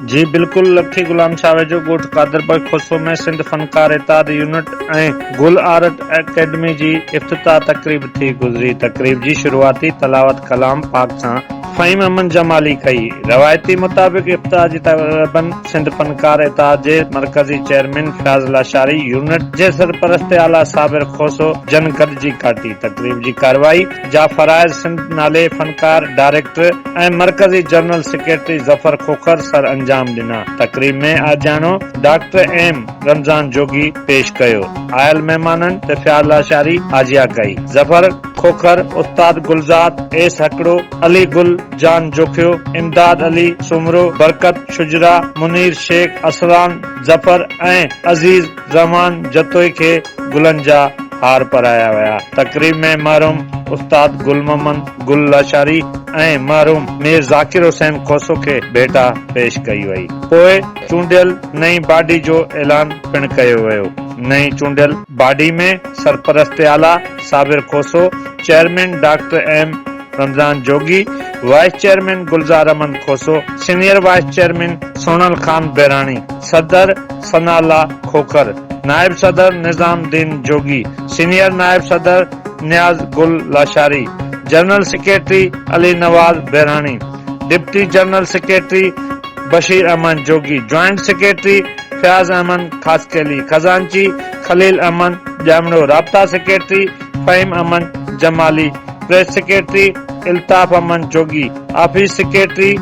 جي بلڪل لکي غلام شاهه جو ڳوٺ Qadirpur Khoso ۾ Sindh Fankar Ittehad unit ۽ Gul art academy جي افتتاح تقريب ٿي گذري تقريب جي شروعاتي تلاوت ڪلام پاڪ سان فهيم احمد جمالي ڪئي روايتي مطابق افتتاح جي تقريبن سنڌ فنڪار اتحاد جي مرڪزي چيئرمين فياض لاشاري يونٽ جي سرپرست اعليٰ صابر کوسو جن گڏجي ڪاٽي تقريب جي ڪارروائي جا فرائض سنڌ نالي فنڪار ڊائريڪٽر ۽ مرڪزي جنرل سيڪريٽري ظفر کوکر سر انجام ڏنا. تقريب ۾ آجياڻو ڊاڪٽر ايم رمضان جوڳي پيش ڪيو. آيل مهمانن تفياض لاشاري آجيا ڪئي. ظفر کوکر، استاد گلزاد، ايس هڪڙو، علي گل، جان جوکيو، امداد علي، سومرو، برڪت، شجرا، منير شيخ، اسران، ظفر ۽ عزيز، زمان جتوئي کي گلن جا هار پرايا ويا. تقريب ۾ مرحوم استاد گل محمد گل لاشاري ۽ مرحوم مير ذاڪر حسين کوسو کي ڀيٽا پيش ڪئي وئي. پوء چونڊيل نئين باڊي جو اعلان پڻ ڪيو ويو. نئين چونڊيل باڊي ۾ سرپرست اعليٰ Sabir Khoso, chairman doctor M. Ramzan Jogi, vice chairman Gulzar Ahmed Khoso, senior vice chairman Sonal Khan Behrani, صدر ثنا الله کوکر، نائب صدر نظام الدين جوڳي، سينيئر نائب صدر Niaz Gul Lashari, general secretary Ali Nawaz Behrani, deputy general secretary Bashir Ahmed Jogi, joint secretary Fayaz Ahmed Khaskheli, خزانچي خليل احمد ڄامڙو، رابطا secretary Faheem Ahmed Jamali, press secretary Altaf Ahmed Jogi, office secretary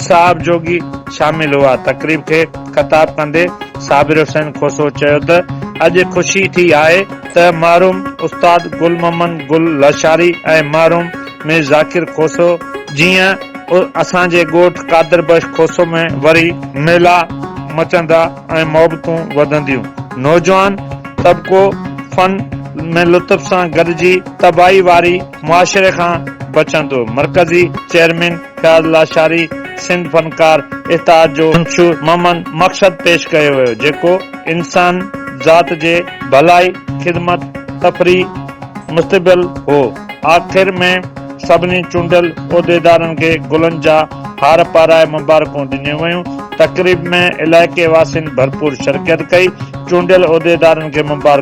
صاحب جوڳي شامل هئا. تقريب کي خطاب ڪندي صابر حسين کوسو چيو ته اڄ خوشي ٿي آهي ته مرحوم استاد گل محمد گل لاشاري ۽ مرحوم مير ذاڪر کوسو جيئن اسان جي ڳوٺ قادر بخش کوسو ۾ وري ميلا مچندا. ۽ محبتون وڌنديون. نوجوان طبقو فن ۾ لطف سان گڏجي تباهي واري معاشري کان بچندو، مرڪزي چيئرمين فياض لاشاري سنڌ فنڪار اتحاد جو منشور ممن مقصد پيش ڪيو ويو جيڪو انسان ذات جي ڀلائي، خدمت، تفريح مستبيل هو. آخر ۾ سڀني چونڊيل عهديدارن کي گلن جا هار پارائي مبارڪون ڏنيون ويون. تقريب ۾ علائقي واسين ڀرپور شرڪيت ڪئي. چونڊيل عهديدارن کي مبارڪون